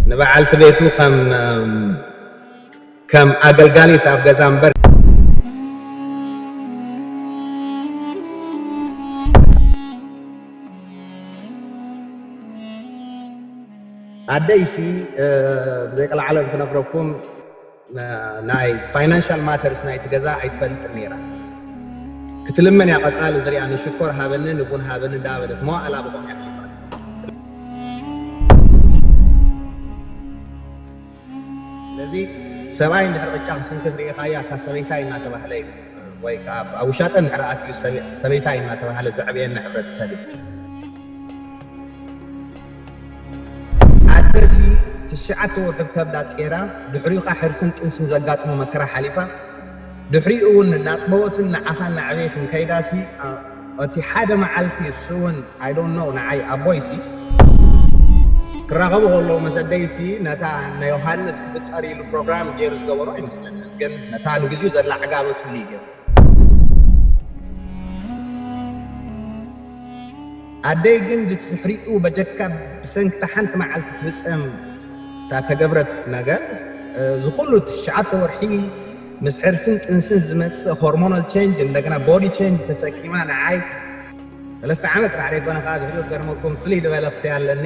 ንበዓልቲ ቤቱ ከም ከም ኣገልጋሊት ኣብ ገዛ እምበር ኣደይሲ ብዘይቀልዓለም ክነግረኩም ናይ ፋይናንሻል ማተርስ ናይቲ ገዛ ኣይትፈልጥን ነይራ ክትልመን እያ ቀጻሊ እዚ ሪኣ ንሽኮር ሃበኒ ንቡን ሃበኒ እንዳበለት መዋእላ ብቆም እያ ኣሕሊፋ ስለዚ ሰብኣይ እንድሕር ቅጫ ክስንክት ርኢኻያ እታ ሰበይታይ እናተባህለ እዩ ወይ ከዓ ኣብ ውሻጠ እንድሕር ኣትዩ ሰበይታይ እናተባህለ ዘዕብየና ሕብረተሰብ እዩ ኣደ እዚ ትሽዓተ ወርሑ ከብዳ ጼራ ድሕሪኡ ከኣ ሕርስን ጥንስን ዘጋጥሞ መከራ ሓሊፋ ድሕሪኡ ውን ናጥበወትን ንዓኻ ናዕበየትን ከይዳ ሲ እቲ ሓደ መዓልቲ እሱ ውን ኣይ ዶንት ኖው ንዓይ ኣቦይ ሲ ክራኸቡ ከለዉ ምስ ኣደይ ሲ ነታ ንዮሃንስ ክፍጠር ኢሉ ፕሮግራም ጌሩ ዝገበሮ ኣይመስለንን ግን ነታ ንግዚኡ ዘላ ዕጋበትሉ እዩ ጌሩ ኣደይ ግን ድትሕሪኡ በጀካ ብሰንኪታ ሓንቲ መዓልቲ ትፍጸም እታ ተገብረት ነገር ዝኹሉ ትሽዓተ ወርሒ ምስ ሕርስን ጥንስን ዝመጽእ ሆርሞናል ቸንጅ እንደገና ቦዲ ቸንጅ ተሰኪማ ንዓይ ሰለስተ ዓመት ራዕሪ ኮነ ከዓ ዝሕሉ ገርመኩም ፍልይ ዝበለ ክስተይ ኣለኒ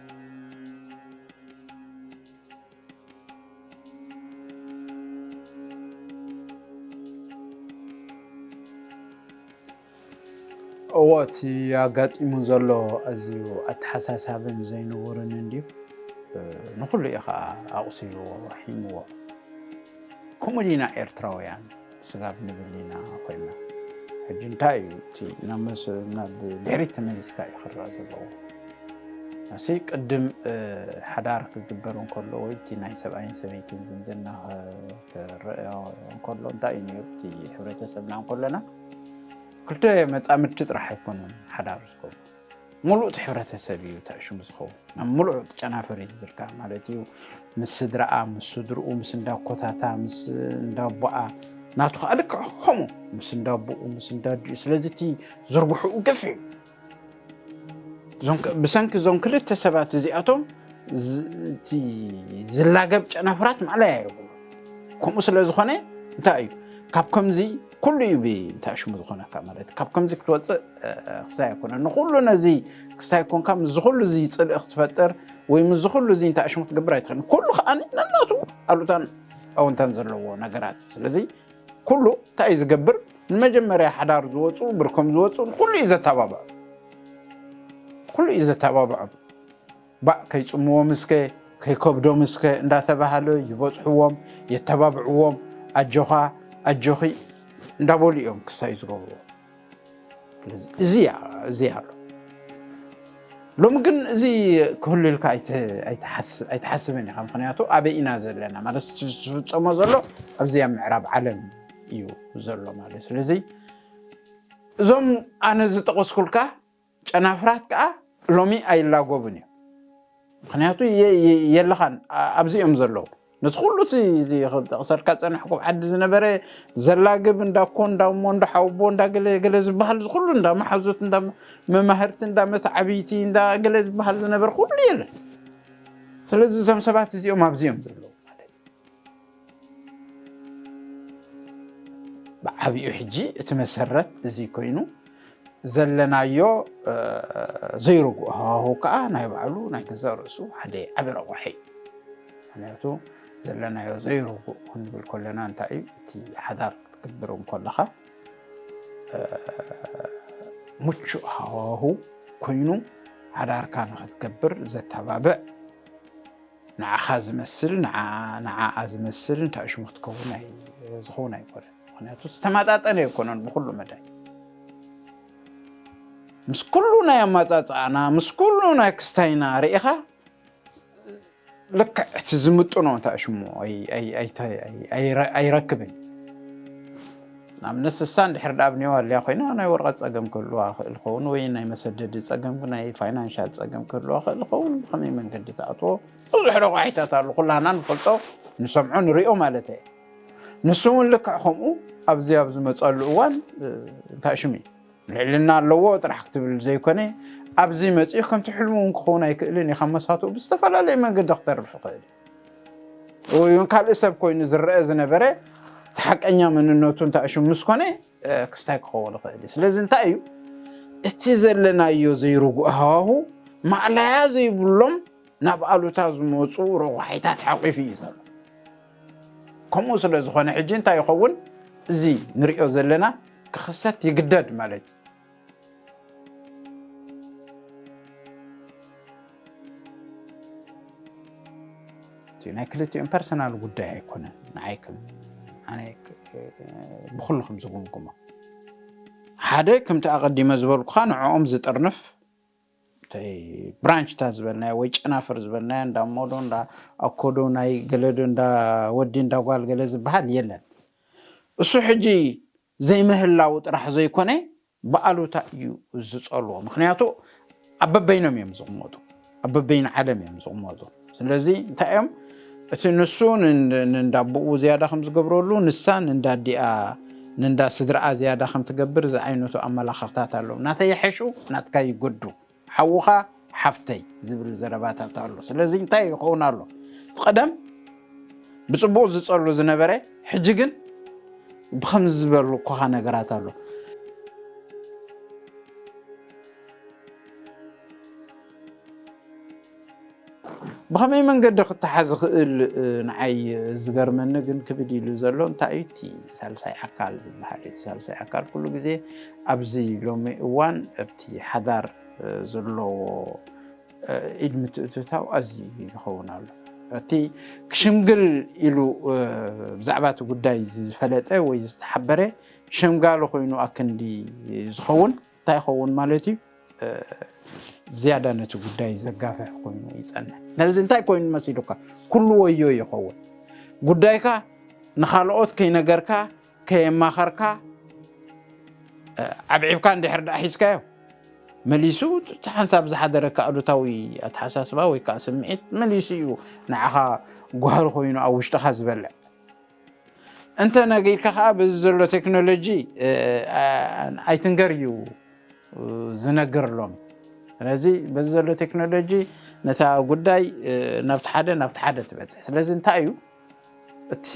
እዎ እቲ ኣጋጢሙ ዘሎ ኣዝዩ ኣተሓሳሳብን ዘይንቡርን እንድዩ ንኹሉ እዩ ከዓ ኣቑሲልዎ ሒምዎ ከምኡ ዲና ኤርትራውያን ስጋብ ንብል ኢና ኮይና ሕጂ እንታይ እዩ እቲ ናብ ድሕሪት ተመሊስካ እዩ ክረኣ ዘለዎ እሲ ቅድም ሓዳር ክግበር እንከሎ ወይ እቲ ናይ ሰብኣይን ሰበይትን ዝምድና ክረኣዮ እንከሎ እንታይ እዩ ነሩ እቲ ሕብረተሰብና እንከሎና ክልተ መፃምድቲ ጥራሕ ኣይኮኑን ሓዳር ዝኮኑ ሙሉእ እቲ ሕብረተሰብ እዩ ተዕሽሙ ዝኸውን ናብ ሙሉዕ እቲ ጨናፍር እዩ ዝዝርጋሕ ማለት እዩ ምስ ስድራኣ ምስ ስድርኡ ምስ እንዳኮታታ ምስ እንዳቦኣ ናቱ ከዓ ልክዕ ከምኡ ምስ እንዳቦኡ ምስ እንዳዲኡ ስለዚ እቲ ዝርግሕኡ ገፊሕ እዩ ብሰንኪ እዞም ክልተ ሰባት እዚኣቶም እቲ ዝላገብ ጨናፍራት ማዕለያ የብሉ ከምኡ ስለ ዝኾነ እንታይ እዩ ካብ ከምዚ ኩሉ እዩ ብእንታይ ሽሙ ዝኾነካ ማለት ካብ ከምዚ ክትወፅእ ክሳይ ኣይኮነ ንኩሉ ነዚ ክሳይ ኮንካ ምስዚ ኩሉ እዚ ፅልኢ ክትፈጥር ወይ ምስዚ ኩሉ እዚ እንታይ ሽሙ ክትገብር ኣይትኽእልን ኩሉ ከዓ ነናቱ ኣሉታን ኣወንታን ዘለዎ ነገራት ስለዚ ኩሉ እንታይ እዩ ዝገብር ንመጀመርያ ሓዳር ዝወፁ ብርኮም ዝወፁ ንኩሉ እዩ ዘተባብዖ ኩሉ እዩ ዘተባብዖም ባእ ከይጽምዎምስከ ከይከብዶምስከ እንዳተባሃለ ይበጽሕዎም የተባብዕዎም ኣጆኻ ኣጆኺ እንዳበሉ እዮም ክሳዩ ዝገብርዎ እዚ እዚ ኣሎ ሎሚ ግን እዚ ክህሉ ኢልካ ኣይትሓስብን ኢኻ ምክንያቱ ኣበይ ኢና ዘለና ማለት ዝፍፀሞ ዘሎ ኣብዚ ኣብ ምዕራብ ዓለም እዩ ዘሎ ማለት ስለዚ እዞም ኣነ ዝጠቀስኩልካ ጨናፍራት ከኣ ሎሚ ኣይላጎብን እዩ ምክንያቱ የለኻን ኣብዚ እዮም ዘለዉ ነቲ ኩሉ እቲ ጠቕሰልካ ዝፀናሕኩ ኣብ ዓዲ ዝነበረ ዘላግብ እንዳ ኮ እንዳ እሞ እንዳ ሓውቦ እንዳ ገለ ገለ ዝበሃል እዚ ኩሉ እንዳ መሓዙት እንዳ መማህርቲ እንዳ መተዓብይቲ እንዳ ገለ ዝበሃል ዝነበረ ኩሉ የለን ስለዚ እዞም ሰባት እዚኦም ኣብዚ እዮም ዘለዉ ማለት ብዓቢኡ ሕጂ እቲ መሰረት እዚ ኮይኑ ዘለናዮ ዘይርጉእ ሃዋህው ከዓ ናይ ባዕሉ ናይ ገዛ ርእሱ ሓደ ዓቢ ረቑሒ ምክንያቱ ዘለናዮ ዘይርጉእ ክንብል ከለና እንታይ እዩ እቲ ሓዳር ክትግብር እንከለኻ ምቹእ ሃዋሁ ኮይኑ ሓዳርካ ንክትገብር ዘተባብዕ ንዓኻ ዝመስል ንዓኣ ንዓኣ ዝመስል እንታይ ሽሙ ክትከውን ኣይ ዝኸውን ኣይኮነን ምክንያቱ ዝተመጣጠነ ኣይኮነን ብኩሉ መዳይ ምስ ኩሉ ናይ ኣማፃፅኣና ምስ ኩሉ ናይ ክስታይና ርኢኻ ልክዕ እቲ ዝምጥኖ እንታይ ሽሙ ኣይረክብን ንኣብነት ስሳ እንድሕር ደኣ ኣብ ኔዋልያ ኮይና ናይ ወረቐት ጸገም ክህልዋ ይኽእል ይኸውን ወይ ናይ መሰደዲ ጸገም ናይ ፋይናንሻል ጸገም ክህልዋ ይኽእል ይኸውን ብኸመይ መንገዲ ትኣትዎ ብዙሕ ረቋሒታት ኣሉ ኩላና ንፈልጦ ንሰምዖ ንሪኦ ማለት እየ ንሱ እውን ልክዕ ከምኡ ኣብዚ ኣብ ዝመፀሉ እዋን እንታይ ሽም እዩ ልዕልና ኣለዎ ጥራሕ ክትብል ዘይኮነ ኣብዚ መፅኡ ከምቲ ሕልሙ እውን ክኸውን ኣይክእልን እዩ ካብ መሳትኡ ብዝተፈላለየ መንገዲ ክተርፍ ይኽእል ወይ እውን ካልእ ሰብ ኮይኑ ዝረኣ ዝነበረ እቲ ሓቀኛ መንነቱ እንታይ ሽም ምስ ኮነ ክስታይ ክኸውን ይኽእል እዩ ስለዚ እንታይ እዩ እቲ ዘለናዮ ዘይርጉእ ሃዋሁ ማዕላያ ዘይብሎም ናብ ኣሉታ ዝመፁ ረቋሒታት ሓቂፉ እዩ ዘሎ ከምኡ ስለ ዝኾነ ሕጂ እንታይ ይኸውን እዚ ንሪኦ ዘለና ክኽሰት ይግደድ ማለት እዩ ናይ ክልቲኦም ፐርሰናል ጉዳይ ኣይኮነን ንዓይ ኣነ ብኩልኩም ዝጉምጉሞ ሓደ ከምቲ ኣቐዲመ ዝበልኩካ ንዕኦም ዝጥርንፍ ብራንችታት ዝበልናዮ ወይ ጨናፍር ዝበልናዮ እንዳ ሞዶ እንዳ ኣኮዶ ናይ ገለዶ እንዳ ወዲ እንዳ ጓል ገለ ዝበሃል የለን እሱ ሕጂ ዘይምህላዉ ጥራሕ ዘይኮነ ብኣሉታ እዩ ዝጸልዎ ምኽንያቱ ኣብ በበይኖም እዮም ዝቕመጡ ኣብ በበይኑ ዓለም እዮም ዝቕመጡ ስለዚ እንታይ እዮም እቲ ንሱ ንንዳቦኡ ዝያዳ ከም ዝገብረሉ ንሳ ንንዳዲኣ ንንዳ ስድራኣ ዝያዳ ከም ትገብር ዝዓይነቱ ኣመላኽኽታት ኣለዉ ናተይ ይሐሹ ናትካ ይጎዱ ሓውኻ ሓፍተይ ዝብል ዘረባታት ኣሎ ስለዚ እንታይ ይኸውን ኣሎ እቲ ቀደም ብጽቡቅ ዝጸሉ ዝነበረ ሕጂ ግን ብከምዚ ዝበሉ ኮኻ ነገራት ኣሎ ብኸመይ መንገዲ ክተሓዝ ይኽእል? ንዓይ ዝገርመኒ ግን ክብድ ኢሉ ዘሎ እንታይ እዩ እቲ ሳልሳይ ኣካል ዝበሃል እዩ። ሳልሳይ ኣካል ኩሉ ግዜ ኣብዚ ሎሚ እዋን ኣብቲ ሓዳር ዘለዎ ኢድ ምትእትታው ኣዝዩ ይኸውን ኣሎ። እቲ ክሽምግል ኢሉ ብዛዕባ እቲ ጉዳይ ዝፈለጠ ወይ ዝተሓበረ ሸምጋሊ ኮይኑ ኣክንዲ ዝኸውን እንታይ ይኸውን ማለት እዩ ብዝያዳ ነቲ ጉዳይ ዘጋፍሕ ኮይኑ ይፀንሕ ነዚ እንታይ ኮይኑ መሲሉካ ኩሉ ወዮ ይኸውን ጉዳይካ ንካልኦት ከይነገርካ ከየማኸርካ ዓብዒብካ እንድሕር ዳኣ ሒዝካዮ መሊሱ እቲ ሓንሳብ ዝሓደረካ ኣሉታዊ ኣተሓሳስባ ወይ ከዓ ስምዒት መሊሱ እዩ ንዓኻ ጓህሪ ኮይኑ ኣብ ውሽጥኻ ዝበልዕ እንተ ነጊርካ ከዓ በዚ ዘሎ ቴክኖሎጂ ኣይትንገር እዩ ዝነግር ሎም ስለዚ በዚ ዘሎ ቴክኖሎጂ ነታ ጉዳይ ናብቲ ሓደ ናብቲ ሓደ ትበፅሕ ስለዚ እንታይ እዩ እቲ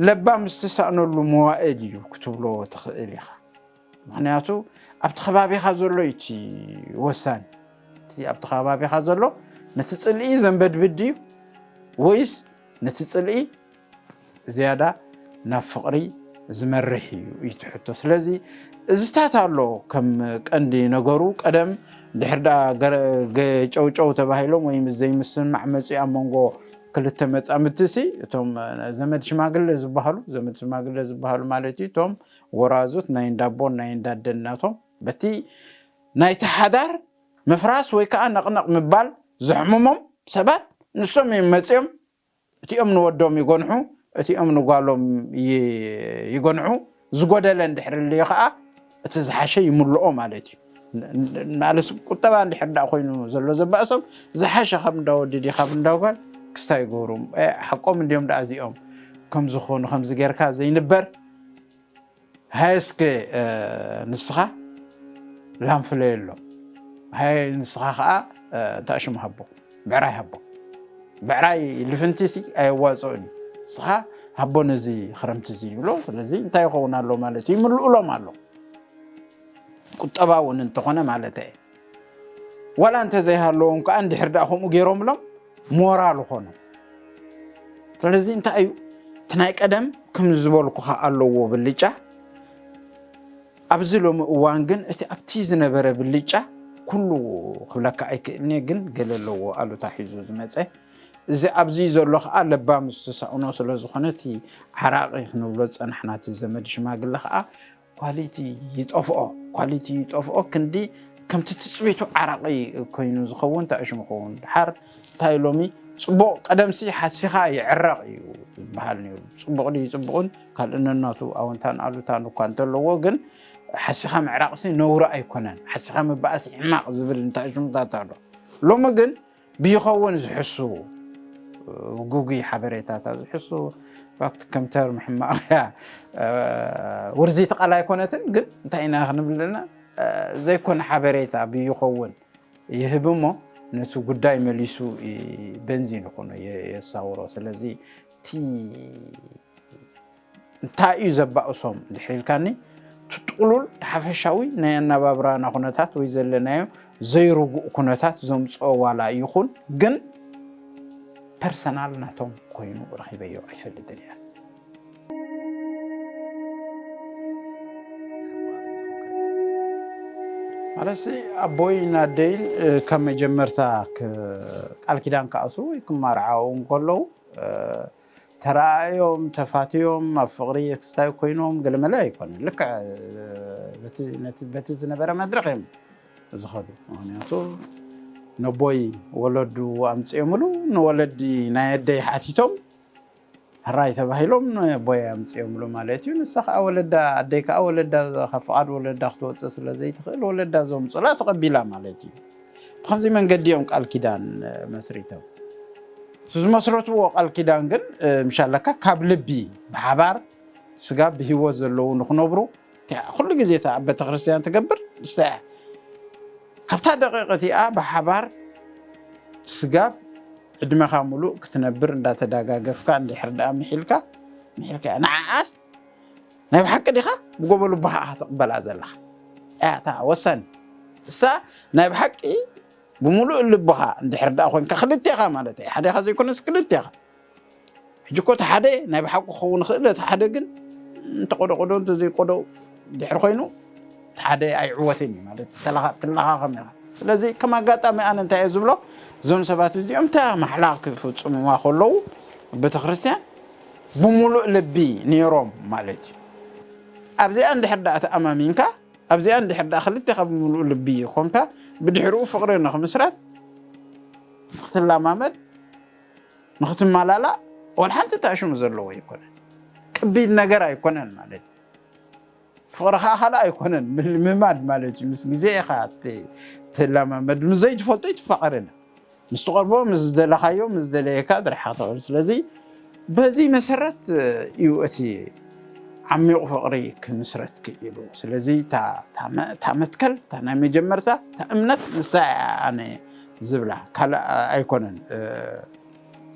ለባም ዝተሳእነሉ መዋእል እዩ ክትብሎ ትኽእል ኢኻ ምኽንያቱ ኣብቲ ከባቢኻ ዘሎ እዩ እቲ ወሳኒ እቲ ኣብቲ ከባቢኻ ዘሎ ነቲ ፅልኢ ዘንበድብድ ድዩ ወይስ ነቲ ፅልኢ ዝያዳ ናብ ፍቕሪ ዝመርሕ እዩ እዩ እቲ ሕቶ ስለዚ እዝታት ኣሎ ከም ቀንዲ ነገሩ ቀደም ድሕር ዳ ጨውጨው ተባሂሎም ወይ ምስ ዘይምስምማዕ መፂኡ ኣብ መንጎ ክልተ መፃምድቲ ሲ እቶም ዘመድ ሽማግለ ዝበሃሉ ዘመድ ሽማግለ ዝበሃሉ ማለት እዩ እቶም ወራዙት ናይ እንዳ ኣቦን ናይ እንዳ ኣደን ናቶም በቲ ናይቲ ሓዳር ምፍራስ ወይ ከኣ ነቕነቕ ምባል ዘሕምሞም ሰባት ንሶም እዮም መጺኦም እቲኦም ንወዶም ይጎንሑ እቲኦም ንጓሎም ይጎንሑ ዝጎደለ እንድሕሪ ልዩ ከኣ እቲ ዝሓሸ ይምልኦ ማለት እዩ። ማለት ቁጠባ እንድሕር ዳ ኮይኑ ዘሎ ዘባእሶም ዝሓሸ ካብ እንዳወዲ ዲ ካብ እንዳጓል ክስታ ይገብሩ ሓቆም እንዲዮም ዳኣ እዚኦም ከምዚ ኮኑ ከምዚ ጌርካ ዘይንበር ሃየ እስከ ንስኻ ላም ፍለየሎ ሃየ ንስኻ ከዓ እንታሽም ሃቦ ብዕራይ ሃቦ ብዕራይ ልፍንቲ ሲ ኣየዋፅኦን እዩ ንስኻ ሃቦ ነዚ ክረምቲ እዚ ይብሎ ስለዚ እንታይ ይኸውን ኣሎ ማለት እዩ ይምልኡሎም ኣሎ ቁጠባ እውን እንተኾነ ማለት እየ ዋላ እንተዘይሃለዎም ከዓ እንድሕር ድኣ ከምኡ ገይሮምሎም ሞራል ኾኑ ስለዚ እንታይ እዩ እቲ ናይ ቀደም ከም ዝበልኩኻ ኣለዎ ብልጫ ኣብዚ ሎሚ እዋን ግን እቲ ኣብቲ ዝነበረ ብልጫ ኩሉ ክብለካ ኣይክእልኒ ግን ገለ ኣለዎ ኣሉታ ሒዙ ዝመፀ እዚ ኣብዚ ዘሎ ከዓ ለባም ዝተሳእኖ ስለዝኾነ እቲ ዓራቂ ክንብሎ ዝፀናሕና እቲ ዘመድ ሽማግለ ከዓ ኳሊቲ ይጠፍኦ ኳሊቲ ይጠፍኦ ክንዲ ከምቲ ትፅቢቱ ዓራቂ ኮይኑ ዝኸውን ተኣሽሙ ኸውን ድሓር እንታይ ሎሚ ፅቡቕ ቀደምሲ ሓሲኻ ይዕረቕ እዩ ዝበሃል ነይሩ ፅቡቕ ድዩ ፅቡቕን ካልእ ነናቱ ኣወንታን ኣሉታን እኳ እንተለዎ ግን ሓሲኻ ምዕራቕሲ ነውሪ ኣይኮነን ሓሲኻ ምበኣስ ሕማቕ ዝብል እንተኣሽሙታት ኣሎ ሎሚ ግን ብይኸውን ዝሕሱ ጉጉይ ሓበሬታታ ዝሕሱ ፋክት ከም ተርም ሕማቕ እያ ውርዚቲ ቃል ኣይኮነትን ግን እንታይ ኢና ክንብልና ዘይኮነ ሓበሬታ ብይኸውን ይህብ እሞ ነቲ ጉዳይ መሊሱ በንዚን ይኹኖ የሳውሮ ስለዚ እቲ እንታይ እዩ ዘባእሶም ድሕሪ ኢልካኒ እቲ ጥቕሉል ሓፈሻዊ ናይ ኣነባብራና ኩነታት ወይ ዘለናዮ ዘይርጉእ ኩነታት ዘምፅኦ ዋላ ይኹን ግን ፐርሰናል ናቶም ኮይኑ ረኺበዮ ኣይፈልጥን እየ። ማለት ኣቦይ ናደይን ካብ መጀመርታ ቃል ኪዳን ክኣስሩ ወይ ክማርዓው እንከለዉ ተራኣእዮም ተፋትዮም ኣብ ፍቅሪ ክስታዩ ኮይኖም ገለመለ ኣይኮነን ልክዕ በቲ ዝነበረ መድረክ እዮም ዝከዱ ምክንያቱ ነቦይ ወለዱ ኣምፅኦምሉ ንወለዲ ናይ ኣደይ ሓቲቶም ሕራይ ተባሂሎም ነቦይ ኣምፅኦምሉ ማለት እዩ ንሳ ከዓ ወለዳ ኣደይ ከዓ ወለዳ ካብ ፍቃድ ወለዳ ክትወፅእ ስለዘይትክእል ወለዳ ዘምፁላ ተቀቢላ ማለት እዩ ብኸምዚ መንገዲ እዮም ቃል ኪዳን መስሪቶም እቲ ዝመስረትዎ ቃል ኪዳን ግን ምሻለካ ካብ ልቢ ብሓባር ስጋ ብሂወት ዘለዉ ንክነብሩ ኩሉ ግዜ እታ ኣብ ቤተክርስትያን ትገብር ንሳ እያ ካብታ ደቂቕ እቲኣ ብሓባር ስጋብ ዕድመኻ ሙሉእ ክትነብር እንዳተዳጋገፍካ እንድሕር ደኣ ምሒልካ ምሒልካ ንዓኣስ ናይ ብሓቂ ዲኻ ብጎቦ ልቦኻ ኢኻ ትቕበላ ዘለኻ እያ እታ ወሳኒ እሳ ናይ ብሓቂ ብምሉእ ልቦኻ እንድሕር ደኣ ኮንካ ክልቴኻ ማለት እዩ ሓደኻ ዘይኮነስ ክልቴኻ ሕጂ እኮ እቲ ሓደ ናይ ብሓቂ ክኸውን ይኽእል እቲ ሓደ ግን እንተቆደቆዶ እንተዘይቆዶ ድሕሪ ኮይኑ እቲ ሓደ ኣይዕወትን እዩ ማለት ትለኻኸም ኢኻ ስለዚ ከም ኣጋጣሚ ኣነ እንታይ እየ ዝብሎ እዞም ሰባት እዚኦም እታ ማሕላ ክፍፅሙዋ ከለዉ ቤተ ክርስትያን ብምሉእ ልቢ ኔሮም ማለት እዩ። ኣብዚኣ እንድሕር ደኣ ተኣማሚንካ ኣብዚኣ እንድሕር ደኣ ክልቴኻ ብምሉእ ልቢ ኮንካ ብድሕሪኡ ፍቕሪ ንኽምስረት ንኽትለማመድ ንኽትመላላእ ወላ ሓንቲ ተኣሽሙ ዘለዎ ኣይኮነን። ቅቢል ነገር ኣይኮነን ማለት እዩ። ፍቕሪ ኸኣ ካልእ ኣይኮነን ምልምማድ ማለት እዩ። ምስ ግዜ ኢኻ ትለማመድ። ምስ ዘይትፈልጦ ኣይትፋቐርን። ምስ ትቐርቦ ምስ ዝደለኻዮ ምስ ዝደለየካ ዝረሓኻ ትኸውን። ስለዚ በዚ መሰረት እዩ እቲ ዓሚቝ ፍቕሪ ክምስረት ክኢሉ። ስለዚ እታ መትከል እታ ናይ መጀመርታ እታ እምነት ንሳ እያ ኣነ ዝብላ ካልእ ኣይኮነን።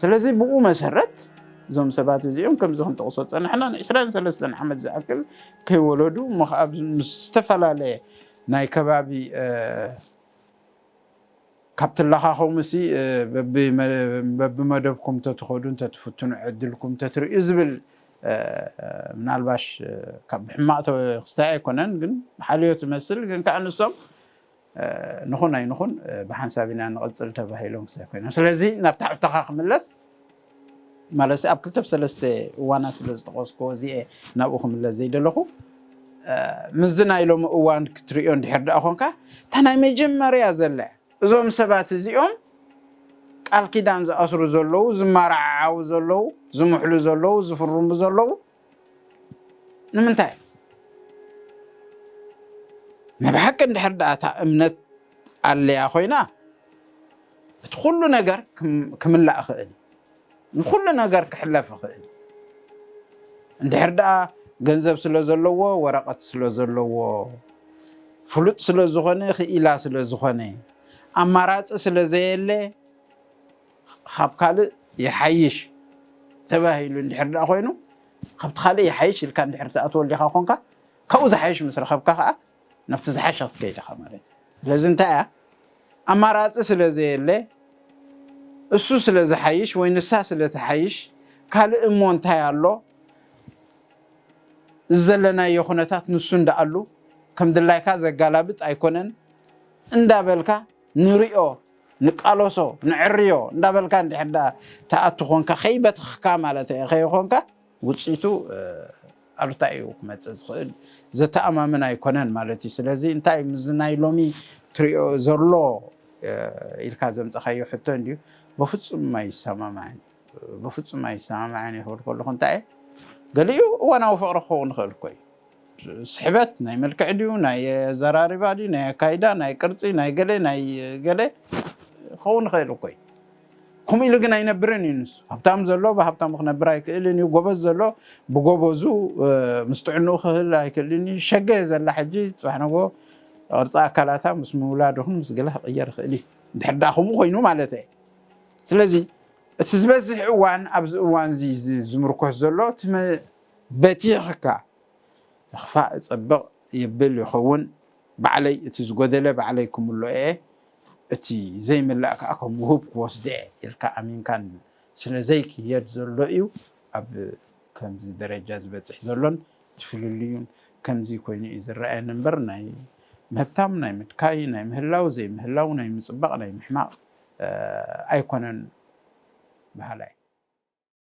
ስለዚ ብኡ መሰረት እዞም ሰባት እዚኦም ከምዚ ክንጠቕሶ ዝጸናሕና ንዕስራን ሰለስተን ዓመት ዝኣክል ከይወለዱ እሞ ከኣ ምስ ዝተፈላለየ ናይ ከባቢ ካብ ትለኻኸሙሲ በብመደብኩም ተትኸዱ እንተትፍትኑ ዕድልኩም ተትርእዩ ዝብል ምናልባሽ ካብ ሕማቕ ክስታይ ኣይኮነን ግን ሓልዮት መስል ግን ከኣ ንሶም ንኹን ኣይንኹን ብሓንሳብ ኢና ንቕፅል ተባሂሎም ክሳይ ኮይኖም ስለዚ ናብ ታሕብተኻ ክምለስ ማለት ኣብ ክልተ ሰለስተ እዋና ስለ ዝጠቐስኩዎ እዚኤ ናብኡ ክምለስ ዘይደለኹ ምስዚ ናይ ሎሚ እዋን ክትሪኦ እንድሕር ደኣ ኮንካ እታ ናይ መጀመርያ ዘለ እዞም ሰባት እዚኦም ቃል ኪዳን ዝኣስሩ ዘለዉ ዝመራዓዓዉ ዘለዉ ዝምሕሉ ዘለዉ ዝፍርሙ ዘለዉ ንምንታይ ናይ ብሓቂ እንድሕር ደኣ እታ እምነት ኣለያ ኮይና እቲ ኩሉ ነገር ክምላእ ይኽእል ንኩሉ ነገር ክሕለፍ ይኽእል እንድሕር ደኣ ገንዘብ ስለ ዘለዎ ወረቐት ስለ ዘለዎ ፍሉጥ ስለ ዝኾነ ክኢላ ስለ ዝኾነ ኣማራፂ ስለ ዘየለ ኻብ ካልእ ይሓይሽ ተባሂሉ እንድሕር ደኣ ኾይኑ፣ ኻብቲ ኻልእ ይሓይሽ ኢልካ እንድሕር ትኣትወሊኻ ኾንካ፣ ካብኡ ዝሓይሽ ምስ ረኸብካ ኸኣ ናብቲ ዝሓሸ ክትከይድ ኢኻ ማለት እዩ። ስለዚ እንታይ እያ? ኣማራጺ ስለ ዘየለ፣ እሱ ስለ ዝሓይሽ ወይ ንሳ ስለ ትሓይሽ፣ ካልእ እሞ እንታይ ኣሎ፣ እዚ ዘለናዮ ኹነታት ንሱ እንዳኣሉ ከም ድላይካ ዘጋላብጥ ኣይኮነን እንዳበልካ ንሪኦ ንቃሎሶ ንዕርዮ እንዳበልካ እንድሕር ደኣ ትኣቱ ኮንካ ከይበተኽካ ማለተይ ከይኾንካ ውጽኢቱ ኣሉታ ኢዩ ክመጽእ ዝኽእል ዘተኣማምን ኣይኮነን ማለት ኢዩ ስለዚ እንታይ ኢዩ ምስዚ ናይ ሎሚ ትሪኦ ዘሎ ኢልካ ዘምጸኻዮ ሕቶ እንድዩ በፍጹም ኣይሰማማዕን በፍጹም ኣይሰማማዕን ኢዩ ክብል ከለኹ እንታይ ኢየ ገሊኡ እዋናዊ ፍቕሪ ክኸውን ይኽእል እኮ ኢዩ ስሕበት ናይ መልክዕ ድዩ ናይ ኣዘራርባ ድዩ ናይ ኣካይዳ ናይ ቅርጺ ናይ ገለ ናይ ገለ ክኸውን ይኽእል እኮ እዩ ከምኡ ኢሉ ግን ኣይነብርን እዩ ንሱ ሃብታም ዘሎ ብሃብታሙ ክነብር ኣይክእልን እዩ ጎበዝ ዘሎ ብጎበዙ ምስ ጥዕንኡ ክህል ኣይክእልን እዩ ሸገ ዘላ ሕጂ ፅባሕ ነጎ ቅርፂ ኣካላታ ምስ ምውላድ ይኹን ምስ ገለ ክቕየር ይኽእል እዩ ድሕር ዳኣ ከምኡ ኮይኑ ማለት እየ ስለዚ እቲ ዝበዝሕ እዋን ኣብዚ እዋን እዚ ዝምርኮስ ዘሎ እቲ በቲኽካ ምኽፋእ እጸብቕ የብል ይኸውን ባዕለይ እቲ ዝጎደለ ባዕለይ ክምልኦ እየ እቲ ዘይምላእ ከኣ ከም ውሁብ ክወስዶ እየ ኢልካ ኣሚንካ ስለ ዘይክየድ ዘሎ እዩ ኣብ ከምዚ ደረጃ ዝበጽሕ ዘሎን እቲ ፍልልዩን ከምዚ ኮይኑ እዩ ዝረኣየኒ እምበር ናይ ምህብታም ናይ ምድካይ ናይ ምህላው ዘይምህላው ናይ ምጽባቕ ናይ ምሕማቕ ኣይኮነን በሃላይ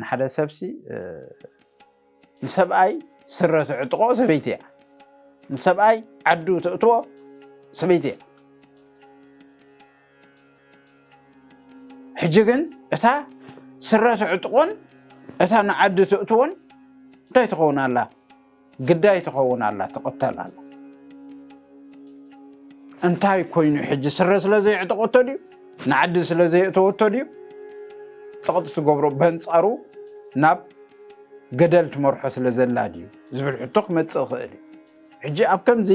ንሓደ ሰብሲ ንሰብኣይ ስረ ትዕጥቆ ሰበይቲ እያ ንሰብኣይ ዓዱ ተእትዎ ሰበይቲ እያ ሕጂ ግን እታ ስረ ትዕጥቆን እታ ንዓዲ ትእትዎን እንታይ ትኸውን ኣላ ግዳይ ትኸውን ኣላ ትቕተል ኣላ እንታይ ኮይኑ ሕጂ ስረ ስለ ዘየዕጠቆቶ ድዩ ንዓዲ ስለ ዘየእተወቶ ድዩ ፅቕጢ ትገብሮ በንፃሩ ናብ ገደል ትመርሖ ስለ ዘላ ድዩ ዝብል ሕቶ ክመፅእ ይኽእል እዩ ሕጂ ኣብ ከምዚ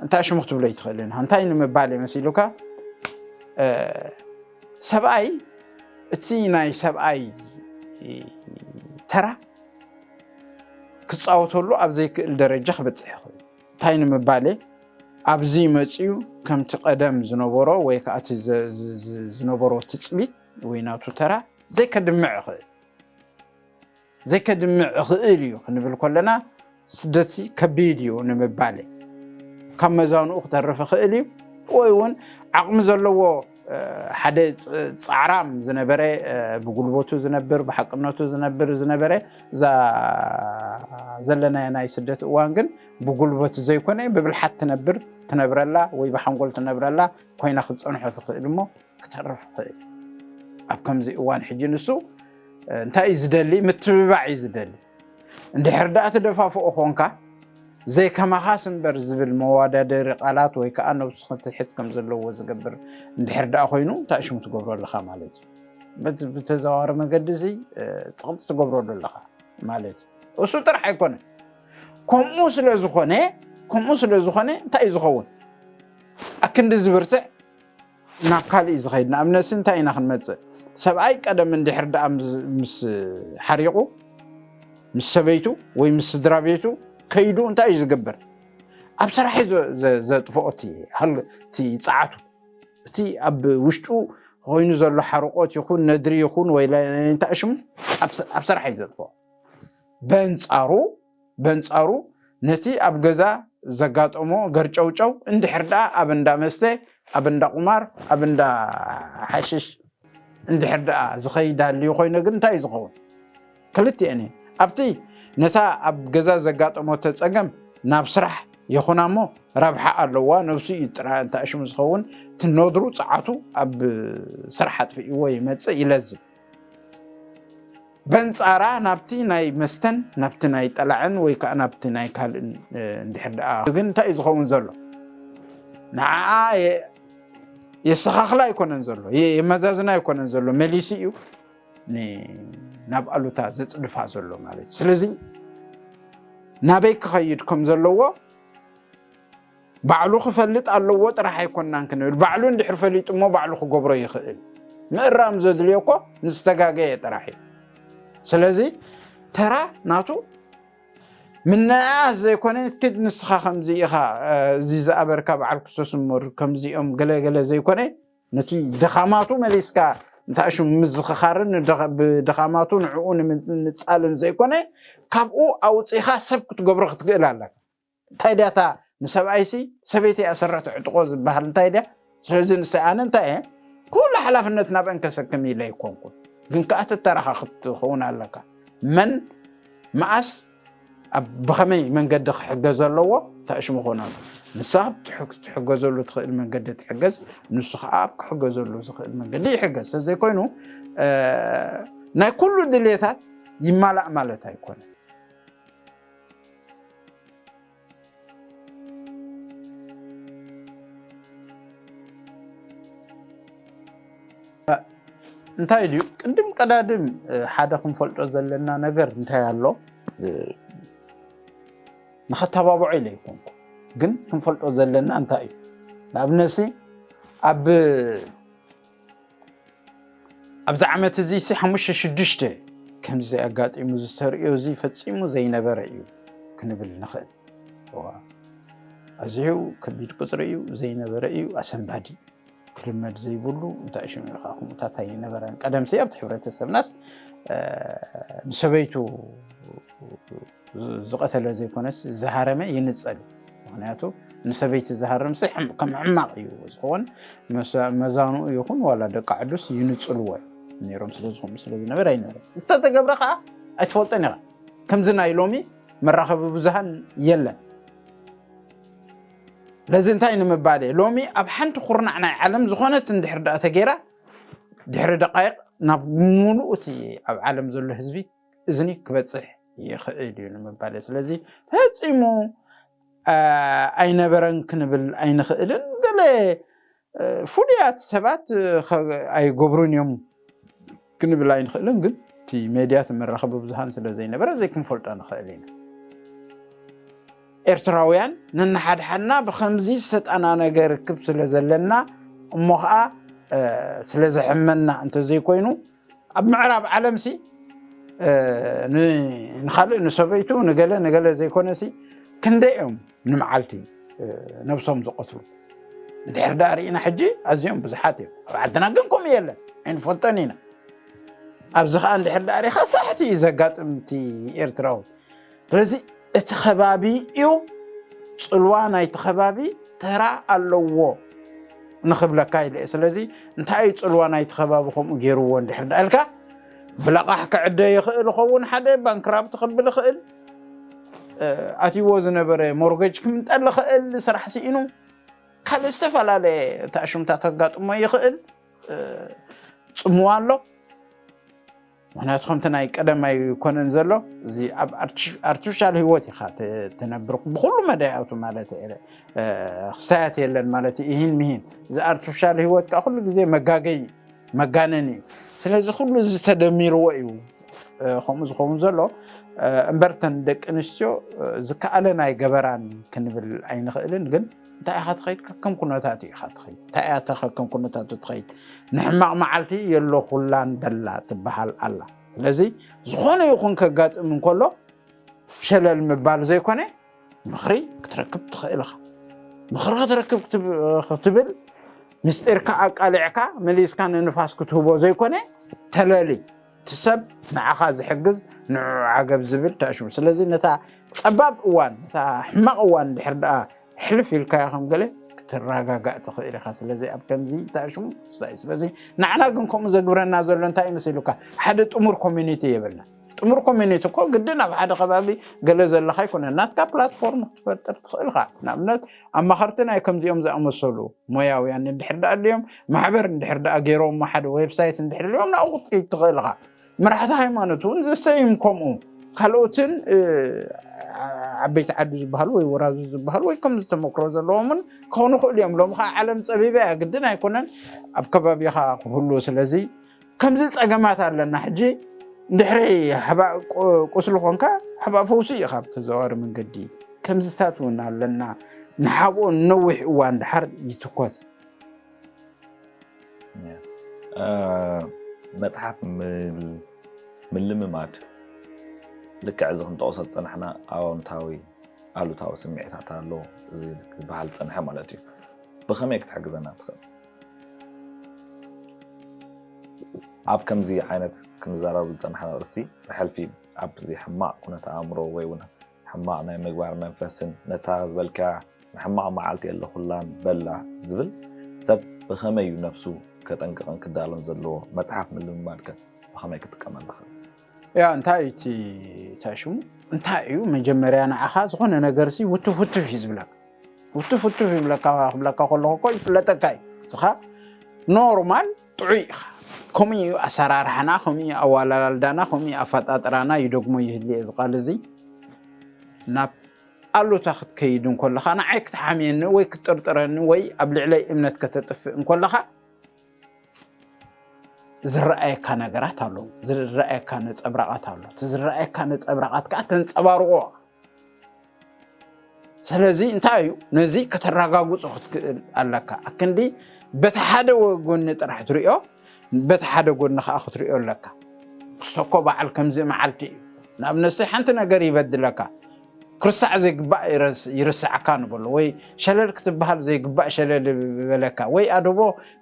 እንታይ ሽሙ ክትብሎ ይትኽእልን እንታይ ንምባል እየ መሲሉካ ሰብኣይ እቲ ናይ ሰብኣይ ተራ ክፃወተሉ ኣብ ዘይክእል ደረጃ ክበፅሕ ይኽእል እዩ። እንታይ ንምባሌ ኣብዚ መፅኡ ከምቲ ቀደም ዝነበሮ ወይ ከዓ እቲ ዝነበሮ ትፅቢት ወይ ናቱ ተራ ዘይከድምዕ ይኽእል ዘይከድምዕ ይኽእል እዩ ክንብል ከለና ስደትሲ ከቢድ እዩ ንምባሌ ካብ መዛንኡ ክተርፍ ይኽእል እዩ ወይ እውን ዓቕሚ ዘለዎ ሓደ ጻዕራም ዝነበረ ብጉልበቱ ዝነብር ብሓቅነቱ ዝነብር ዝነበረ እዛ ዘለናዮ ናይ ስደት እዋን ግን ብጉልበት ዘይኮነ ብብልሓት ትነብር ትነብረላ ወይ ብሓንጎል ትነብረላ ኮይና ክትፀንሖ ትኽእል እሞ ክተርፍ ይኽእል ኣብ ከምዚ እዋን ሕጂ ንሱ እንታይ እዩ ዝደሊ ምትብባዕ እዩ ዝደሊ እንድሕር ደኣ ትደፋፍኦ ኾንካ፣ ዘይከማኻስ እምበር ዝብል መዋዳደሪ ቃላት ወይ ከኣ ነብሱ ክትሕት ከም ዘለዎ ዝገብር እንድሕር ደኣ ኮይኑ እንታይ ሽሙ ትገብሮ ኣለኻ ማለት እዩ። በቲ ብተዘዋዋሪ መገዲ እዚ ጽቕጢ ትገብረሉ ኣለኻ ማለት እዩ። እሱ ጥራሕ ኣይኮነን ከምኡ ስለ ዝኾነ ከምኡ ስለ ዝኾነ እንታይ እዩ ዝኸውን ኣክንዲ ዝብርትዕ ናብ ካልእ እዩ ዝኸይድ ንኣብነትሲ እንታይ ኢና ክንመጽእ ሰብኣይ ቀደም እንድሕር ደኣ ምስ ሓሪቑ ምስ ሰበይቱ ወይ ምስ ስድራ ቤቱ ከይዱ እንታይ እዩ ዝገብር ኣብ ስራሕ እዩ ዘጥፍኦ እቲ ጸዓቱ እቲ ኣብ ውሽጡ ኮይኑ ዘሎ ሓርቆት ይኹን ነድሪ ይኹን ወይ እንታይ ሽሙ ኣብ ስራሕ እዩ ዘጥፍኦ በንጻሩ በንጻሩ ነቲ ኣብ ገዛ ዘጋጠሞ ገርጨውጨው እንድሕር ደኣ ኣብ እንዳ መስተ፣ ኣብ እንዳ ቁማር፣ ኣብ እንዳ ሓሽሽ እንድሕር ደኣ ዝኸይድ ሃልዩ ኮይነ ግን እንታይ እዩ ዝኸውን? ክልቲኤን እየን። ኣብቲ ነታ ኣብ ገዛ ዘጋጠመቶ ጸገም ናብ ስራሕ ይኹና እሞ ረብሓ ኣለዋ ነብሱ እዩ ጥራይ እንተኣሽሙ ዝኸውን እቲ ኖድሩ ጸዓቱ ኣብ ስራሕ ኣጥፊእዎ ይመጽእ ይለዝብ። በንጻራ ናብቲ ናይ መስተን ናብቲ ናይ ጠላዕን ወይ ከዓ ናብቲ ናይ ካልእን እንድሕር ደኣ ግን እንታይ እዩ ዝኸውን ዘሎ ንዓዓ የሰኻኽላ ኣይኮነን ዘሎ የመዛዝና ኣይኮነን ዘሎ መሊሱ እዩ ናብ ኣሉታ ዘፅድፋ ዘሎ ማለት እዩ ስለዚ ናበይ ክኸይድ ከም ዘለዎ ባዕሉ ክፈልጥ ኣለዎ ጥራሕ ኣይኮናን ክንብል ባዕሉ እንድሕር ፈሊጡ እሞ ባዕሉ ክገብሮ ይኽእል ምእራም ዘድልዮ እኮ ንዝተጋገየ ጥራሕ እዩ ስለዚ ተራ ናቱ ምንእኣስ ዘይኮነ ክድ ንስኻ ከምዚ ኢኻ እዚ ዝኣበርካ በዓል ክርስቶስ እምር ከምዚኦም ገለገለ ዘይኮነ ነቲ ድኻማቱ መሊስካ እንታይ ሽሙ ምዝኽኻርን ብድኻማቱ ንዕኡ ንምንጻልን ዘይኮነ ካብኡ ኣውፂኻ ሰብ ክትገብሮ ክትክእል ኣለካ እንታይ ድያ እታ ንሰብኣይሲ ሰበይቲ እያ ስረ ትዕጥቆ ዝበሃል እንታይ ድያ? ስለዚ ንሰይ ኣነ እንታይ እየ ኩሉ ሓላፍነት ናብአን ከሰክም ኢለ ኣይኮንኩን፣ ግን ከኣ ተተራኻ ክትኸውን ኣለካ መን መኣስ ብኸመይ መንገዲ ክሕገዝ ኣለዎ ተእሽሙ ክኾን ኣለዎ። ንሳ ትሕገዘሉ ትኽእል መንገዲ ትሕገዝ፣ ንሱ ከዓ ኣብ ክሕገዘሉ ዝኽእል መንገዲ ይሕገዝ። ስለዘይኮይኑ ናይ ኩሉ ድሌታት ይማላእ ማለት ኣይኮነ። እንታይ ድዩ ቅድም ቀዳድም ሓደ ክንፈልጦ ዘለና ነገር እንታይ ኣሎ ንኸተባብዖ ኢለ ይኮንኩ ግን ክንፈልጦ ዘለና እንታይ እዩ ንኣብነት ኣብ ኣብዚ ዓመት እዚ ሲ ሓሙሽተ ሽዱሽተ ከምዚ ኣጋጢሙ ዝተርእዮ እዚ ፈፂሙ ዘይነበረ እዩ ክንብል ንኽእል ኣዝዩ ከቢድ ቁፅሪ እዩ ዘይነበረ እዩ ኣሰንባዲ ክልመድ ዘይብሉ እንታይ ሽሙ ኢኻ ከምኡታት ኣይነበረን ቀደምሲ ኣብቲ ሕብረተሰብናስ ንሰበይቱ ዝቐተለ ዘይኮነስ ዝሃረመ ይንጸል እዩ ምክንያቱ ንሰበይቲ ዝሃርም ሲ ከም ሕማቕ እዩ ዝኸውን መዛንኡ ይኹን ዋላ ደቂ ዓዱስ ይንፅልዎ ነይሮም ስለዝኾኑ ስለዝነበረ ኣይነበረ እንተተገብረ ከዓ ኣይትፈልጦን ኢኻ ከምዚ ናይ ሎሚ መራኸቢ ብዙሃን የለን ለዚ እንታይ ንምባል እየ ሎሚ ኣብ ሓንቲ ኩርናዕ ናይ ዓለም ዝኾነት እንድሕር ዳኣ ተገይራ ድሕሪ ደቃይቕ ናብ ሙሉእ እቲ ኣብ ዓለም ዘሎ ህዝቢ እዝኒ ክበፅሕ ይኽእል እዩ ንምባል እየ። ስለዚ ፈፂሙ ኣይነበረን ክንብል ኣይንኽእልን። ገለ ፍሉያት ሰባት ኣይገብሩን እዮም ክንብል ኣይንኽእልን። ግን እቲ ሜድያ እቲ መራኸቢ ብዙሃን ስለ ዘይነበረ ዘይክንፈልጦ ንኽእል ኢና። ኤርትራውያን ነናሓድሓድና ብከምዚ ዝተጠናነገ ርክብ ስለ ዘለና እሞ ከዓ ስለ ዘሕመና እንተዘይኮይኑ ኣብ ምዕራብ ዓለም ሲ ንካልእ ንሰበይቱ ንገለ ንገለ ዘይኮነ ሲ ክንደይ እዮም ንመዓልቲ ነብሶም ዝቐትሉ ድሕር ዳ ርኢና ሕጂ ኣዝዮም ብዙሓት እዮም ኣብ ዓድና ግን ከምኡ የለን ኣይንፈልጦን ኢና ኣብዚ ከዓ እንድሕር ዳሪኻ ሳሕቲ እዩ ዘጋጥም እቲ ኤርትራዊ ስለዚ እቲ ከባቢ እዩ ፅልዋ ናይቲ ከባቢ ተራ ኣለዎ ንክብለካ ኢለ እየ ስለዚ እንታይ እዩ ፅልዋ ናይቲ ከባቢ ከምኡ ገይርዎ እንድሕር ዳ ኢልካ ብለቓሕ ክዕደ ይኽእል ይኸውን ሓደ ባንክራፕት ክብል ይኽእል ኣትይዎ ዝነበረ ሞርገጅ ክምንጠል ይኽእል ስራሕ ስኢኑ ካልእ ዝተፈላለየ ተኣሽምታ ከጋጥሞ ይኽእል ፅምዋ ኣሎ ምክንያቱ ከምቲ ናይ ቀደም ኣይኮነን ዘሎ እዚ ኣብ ኣርቲፊሻል ህይወት ኢካ ትነብር ብኩሉ መዳያቱ ማለት ክስታያት የለን ማለት ይህን ምሂን እዚ ኣርቲፊሻል ህይወት ከዓ ኩሉ ግዜ መጋገይ መጋነን እዩ ስለዚ ኩሉ እዚ ተደሚርዎ እዩ ከምኡ ዝኸውን ዘሎ እምበርተን ደቂ ኣንስትዮ ዝከኣለን ኣይገበራን ክንብል ኣይንኽእልን ግን እንታይ ኢኻ ትኸይድ ከከም ኩነታቱ ኢኻ ትኸይድ እንታይ እያ ከከም ኩነታቱ ትኸይድ ንሕማቕ መዓልቲ የሎ ኩላን በላ ትበሃል ኣላ ስለዚ ዝኾነ ይኹን ከጋጥም እንከሎ ሸለል ምባል ዘይኮነ ምኽሪ ክትረክብ ትኽእል ኢኻ ምኽሪ ክትረክብ ክትብል ምስጢርካ ኣቃሊዕካ መሊስካ ንንፋስ ክትህቦ ዘይኮነ ተለሊ እቲ ሰብ ንዓኻ ዝሕግዝ ንዕዑ ዓገብ ዝብል ተኣሽሙ ስለዚ ነታ ጸባብ እዋን ነታ ሕማቕ እዋን ድሕር ደኣ ሕልፍ ኢልካያ ከም ገለ ክትረጋጋእ ትኽእል ኢኻ ስለዚ ኣብ ከምዚ ተኣሽሙ ስታይ ስለዚ ንዓና ግን ከምኡ ዘግብረና ዘሎ እንታይ እዩ መሲሉካ ሓደ ጥሙር ኮሚኒቲ የብልና ጥሙር ኮሚኒቲ እኮ ግድን ኣብ ሓደ ከባቢ ገለ ዘለካ ኣይኮነን ናትካ ፕላትፎርም ክትፈጥር ትኽእል ኢኻ ንኣብነት ኣማኸርቲ ናይ ከምዚኦም ዝኣመሰሉ ሞያውያን እንድሕር ደኣ ኣድልዮም፣ ማሕበር እንድሕር ደኣ ገይሮሞ፣ ሓደ ዌብሳይት እንድሕር ኣልዮም ናብኡ ክትከይድ ትኽእል ኢኻ። መራሕቲ ሃይማኖት እውን ዘሰይም ከምኡ፣ ካልኦትን ዓበይቲ ዓዲ ዝበሃሉ ወይ ወራዙ ዝበሃሉ ወይ ከምዚ ተመክሮ ዘለዎምን ክኾኑ ይኽእሉ እዮም። ሎሚ ከኣ ዓለም ጸቢባ እያ፣ ግድን ኣይኮነን ኣብ ከባቢኻ ክህሉ። ስለዚ ከምዚ ፀገማት ኣለና ሕጂ ድሕሪ ሕባእ ቁስሊ ኮንካ ሕባእ ፈውሲ እዩ ካብ ተዘዋዋሪ መንገዲ ከምዚታት እውን ኣለና ንሓብኦ ንነዊሕ እዋን ድሓር ይትኮስ መፅሓፍ ምልምማድ ልክዕ እዚ ክንጠቕሶ ዝፀናሕና ኣዎንታዊ ኣሉታዊ ስምዒታት ኣሎ እዚ ዝበሃል ዝፀንሐ ማለት እዩ ብኸመይ ክትሕግዘና ትኽእል ኣብ ከምዚ ዓይነት ክንዛረበሉ ዝጸናሕና ኣርእስቲ፣ ብሕልፊ ኣብዚ ሕማቕ ኩነተ-ኣእምሮ ወይ'ውን ሕማቕ ናይ ምግባር መንፈስን ነታ ዝበልካያ ንሕማቕ መዓልቲ የለኹላን በላ ዝብል፣ ሰብ ብኸመይ'ዩ ነብሱ ከጠንቅቕን ክዳሎን ዘለዎ መጽሓፍ ምልምማድከ ብኸመይ ክጥቀመላ ክእል? ያ እንታይ እዩ እቲ እንታይ ሽሙ እንታይ እዩ መጀመርያ ንዓኻ ዝኾነ ነገርሲ ውትፍ ውትፍ እዩ ዝብለካ ውትፍ ውትፍ ይብለካ ክብለካ ከለኹ እኮ ይፍለጠካ እዩ ንስኻ ኖርማል ጥዑይ ኢኻ ከምኡ እዩ ኣሰራርሓና ከምኡ እዩ ኣዋላላልዳና ከምኡ እዩ ኣፈጣጥራና ይደግሞ ይህል እየ ዝቃል እዚ ናብ ኣሉታ ክትከይድ እንኮለኻ ንዓይ ክትሓምየኒ ወይ ክትጥርጥረኒ ወይ ኣብ ልዕለይ እምነት ከተጥፍእ እንኮለኻ ዝረኣየካ ነገራት ኣሎ፣ ዝረኣየካ ነፀብራቓት ኣሎ። እቲ ዝረኣየካ ነፀብራቓት ከዓ ተንፀባርቆ ስለዚ እንታይ እዩ ነዚ ከተረጋግፆ ክትክእል ኣለካ። ኣክንዲ በቲ ሓደ ጎኒ ጥራሕ ትሪኦ፣ በቲ ሓደ ጎኒ ከዓ ክትሪኦ ኣለካ። ክስተኮ በዓል ከምዚ መዓልቲ እዩ። ንኣብነት ሓንቲ ነገር ይበድለካ ክርሳዕ ዘይግባእ ይርሰዓካ ንበሎ ወይ ሸለል ክትበሃል ዘይግባእ ሸለል በለካ ወይ ኣደቦ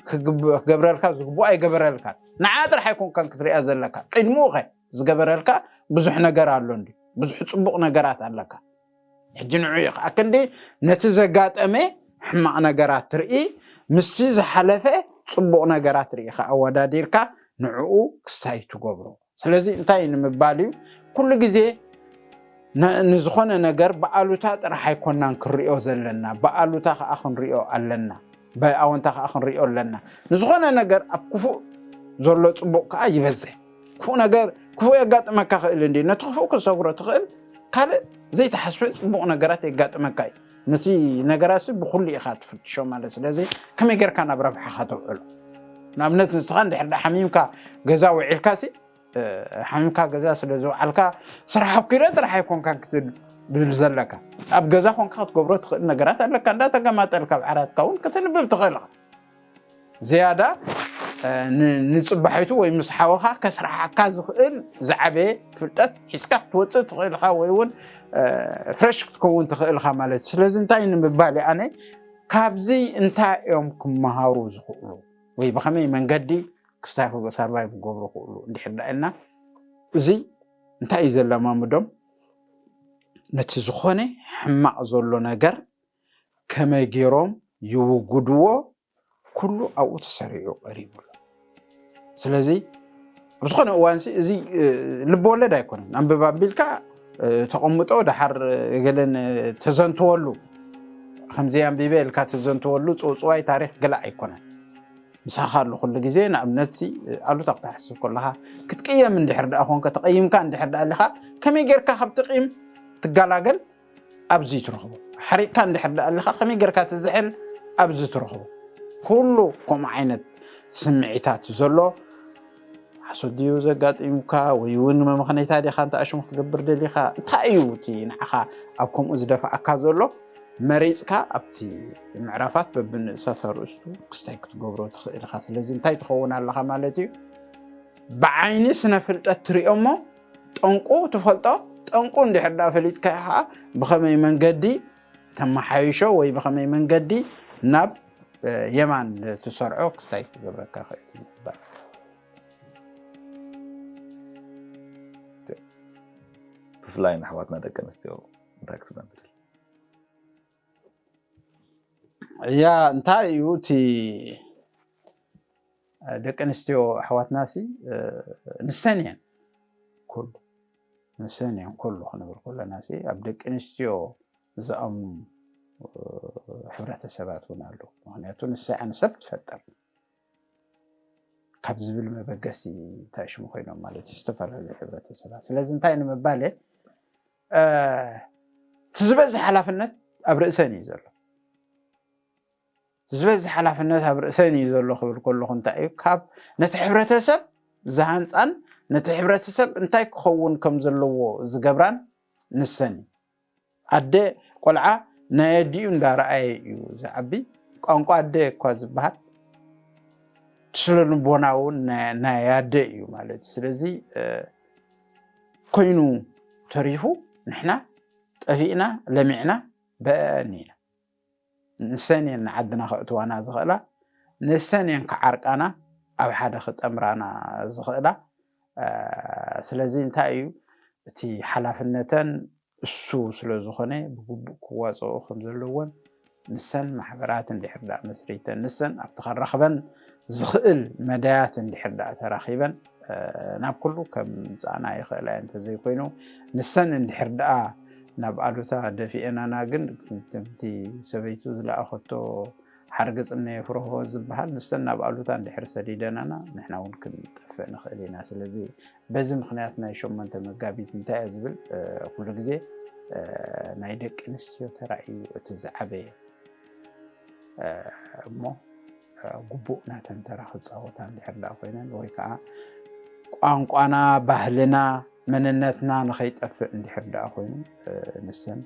ክገብረልካ ዝግብኦ ኣይገበረልካ ንዓ ጥራሕ ኣይኮንካን ክትሪያ ዘለካ ቅድምኡ ከ ዝገበረልካ ብዙሕ ነገር ኣሎ እንዲ ብዙሕ ፅቡቕ ነገራት ኣለካ ሕጂ ንዑ እዩ ከዓ ክንዲ ነቲ ዘጋጠመ ሕማቕ ነገራት ትርኢ ምስቲ ዝሓለፈ ፅቡቕ ነገራት ርኢኻ ኣወዳዲርካ ንዕኡ ክስታይ ትገብሮ ስለዚ እንታይ ንምባል እዩ ኩሉ ግዜ ንዝኾነ ነገር ብኣሉታ ጥራሕ ኣይኮናን ክንሪኦ ዘለና ብኣሉታ ከዓ ክንሪኦ ኣለና ብኣወንታ ከዓ ክንሪኦ ኣለና ንዝኾነ ነገር ኣብ ክፉእ ዘሎ ፅቡቅ ከዓ ይበዝሕ ክፉእ ነገር ክፉእ የጋጥመካ ክእል እንዲ ነቲ ክፉእ ክሰግሮ ትኽእል ካልእ ዘይተሓስበ ፅቡቅ ነገራት የጋጥመካ እዩ ነቲ ነገራትሲ ብኹሉ ኢኻ ትፍትሾ ማለት ስለዚ ከመይ ጌርካ ናብ ረብሓኻ ተውዕሎ ንኣብነት ንስኻ እንድሕር ዳ ሓሚምካ ገዛ ውዒልካሲ ሓሚምካ ገዛ ስለ ዝውዓልካ ስራሕ ኣኪረ ጥራሕ ኣይኮንካን ክትብል ዘለካ ኣብ ገዛ ኮንካ ክትገብሮ ትኽእል ነገራት ኣለካ እንዳተገማጠልካ ኣብ ዓራትካ እውን ከተንብብ ትኽእል ኢኻ ዝያዳ ንጽባሒቱ ወይ ምስ ሓወኻ ከስራሓካ ዝኽእል ዝዓበየ ፍልጠት ሒዝካ ክትወፅእ ትኽእል ኢኻ ወይ እውን ፍረሽ ክትከውን ትኽእል ኢኻ ማለት እዩ ስለዚ እንታይ ንምባል ኣነ ካብዚ እንታይ እዮም ክመሃሩ ዝኽእሉ ወይ ብኸመይ መንገዲ ክስታይክጎ ሳርቫይ ክገብሩ ክእሉ እንድሕር ዳ ኢልና እዚ እንታይ እዩ ዘለማምዶም ነቲ ዝኾነ ሕማቕ ዘሎ ነገር ከመይ ገይሮም ይውጉድዎ ኩሉ ኣብኡ ተሰሪዑ ቀሪቡ ኣሎ ስለዚ ኣብ ዝኾነ እዋንሲ እዚ ልቢ ወለድ ኣይኮነን ኣንብብ ኣቢልካ ተቐምጦ ደሓር ገለን ተዘንትወሉ ከምዚ ኣንቢበ ኢልካ ተዘንትወሉ ፅውፅዋይ ታሪክ ገለ ኣይኮነን ምሳኻ ኣሎ ኩሉ ግዜ ንኣብነት ኣሉታ ክትሓስብ ከለኻ ክትቅየም እንድሕር ደኣ ኮንከ ተቐይምካ እንድሕር ደኣ ኣለኻ ከመይ ጌርካ ካብ ትቕይም ትገላገል ኣብዚ ትረኽቦ ሓሪቕካ እንድሕር ደኣ ኣለኻ ከመይ ጌርካ ትዝሕል ኣብዚ ትረኽቦ ኩሉ ከምኡ ዓይነት ስምዒታት ዘሎ ሓሶት ድዩ ዘጋጢሙካ ወይ እውን መመኽነይታ ዲኻ እንተ ኣሽሙ ክትገብር ደሊኻ እንታይ እዩ እቲ ንዓኻ ኣብ ከምኡ ዝደፍኣካ ዘሎ መሪፅካ ኣብቲ ምዕራፋት በብንእሰተ ርእስቱ ክስታይ ክትገብሮ ትኽእል ኢኻ ስለዚ እንታይ ትኸውን ኣለኻ ማለት እዩ ብዓይኒ ስነ ፍልጠት ትሪኦ እሞ ጠንቁ ትፈልጦ ጠንቁ እንድሕር ዳ ፈሊጥካዮ ከዓ ብኸመይ መንገዲ ተመሓይሾ ወይ ብኸመይ መንገዲ ናብ የማን ትሰርዖ ክስታይ ክገብረካ ክእል ይባል ብፍላይ ንኣሕዋትና ደቂ ኣንስትዮ እንታይ ክትነብር እያ እንታይ እዩ እቲ ደቂ ኣንስትዮ ኣሕዋትና ሲ ንሰን እየን ኩሉ ንሰን እየን ኩሉ ክንብል ከለና ሲ ኣብ ደቂ ኣንስትዮ ዝኣምኑ ሕብረተሰባት እውን ኣለዉ ምክንያቱ ንሳ እያ ንሰብ ትፈጥር ካብ ዝብል መበገሲ እንታይ ሽሙ ኮይኖም ማለት እዩ ዝተፈላለዩ ሕብረተሰባት ስለዚ እንታይ ንምባል እቲ ዝበዝሕ ሓላፍነት ኣብ ርእሰን እዩ ዘሎ ዝበዝሕ ሓላፍነት ኣብ ርእሰን እዩ ዘሎ ክብል ከለኹ እንታይ እዩ ካብ ነቲ ሕብረተሰብ ዝሃንፃን ነቲ ሕብረተሰብ እንታይ ክኸውን ከም ዘለዎ ዝገብራን ንሰን እዩ ኣደ ቆልዓ ናይ ኣዲኡ እንዳረኣየ እዩ ዝዓቢ ቋንቋ ኣደ እኳ ዝበሃል ስለ ንቦና እውን ናይ ኣደ እዩ ማለት እዩ ስለዚ ኮይኑ ተሪፉ ንሕና ጠፊእና ለሚዕና በአን ኢና ንሰን እየን ንዓድና ከእትዋና ዝኽእላ፣ ንሰን እየን ክዓርቃና ኣብ ሓደ ክጠምራና ዝኽእላ። ስለዚ እንታይ እዩ እቲ ሓላፍነተን እሱ ስለ ዝኾነ ብግቡእ ክዋፅኦ ከም ዘለዎን ንሰን ማሕበራት እንድሕር ደኣ መስሪተን ንሰን ኣብቲ ከራኽበን ዝኽእል መዳያት እንድሕር ደኣ ተራኺበን ናብ ኩሉ ከምፃና ይኽእላ እየን እንተዘይኮይኑ ንሰን እንድሕር ደኣ ናብ ኣሉታ ደፊኤናና ግን ከምቲ ሰበይቱ ዝለኣኸቶ ሓርግፅ እነ ፍርሆ ዝበሃል ንሰን ናብ ኣሉታ እንድሕር ሰዲደናና ንሕና እውን ክንጠፍእ ንኽእል ኢና ስለዚ በዚ ምክንያት ናይ ሸሞንተ መጋቢት እንታይ እየ ዝብል ኩሉ ግዜ ናይ ደቂ ኣንስትዮ ተራ እዩ እቲ ዝዓበየ እሞ ግቡእ ናተን ተራ ክፃወታ እንድሕር ደኣ ኮይነን ወይ ከዓ ቋንቋና፣ ባህልና፣ መንነትና ንኸይጠፍእ እንድሕር ደኣ ኮይኑ ንሰን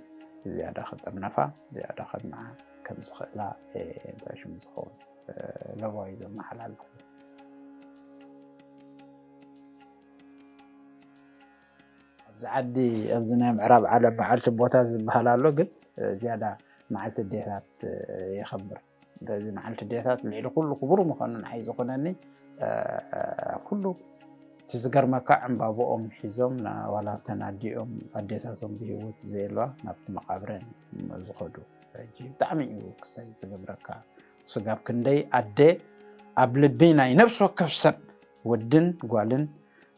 ዝያዳ ክጥርነፋ ዝያዳ ከድምዓ ከም ዝኽእላ እንታይ ሽሙ ዝኸውን ለባዊ ዘመሓላልፉ ኣብዚ ዓዲ ኣብዚ ናይ ምዕራብ ዓለም መዓልቲ ቦታ ዝበሃል ኣሎ ግን ዝያዳ መዓልቲ ዴታት የኸብር በዚ መዓልቲ ዴታት ልዕሊ ኩሉ ክቡር ምዃኑ ንዓይ ዝኾነኒ ኩሉ እቲ ዝገርመካ ዕምባብኦም ሒዞም ዋላ እተን ኣዲኦም ኣዴታቶም ብሂወት ዘየለዋ ናብቲ መቓብረን ዝኸዱ ሕጂ ብጣዕሚ እዩ ክሳይ ዝገብረካ ስጋብ ክንደይ ኣደ ኣብ ልቢ ናይ ነብሲ ወከፍ ሰብ ወድን ጓልን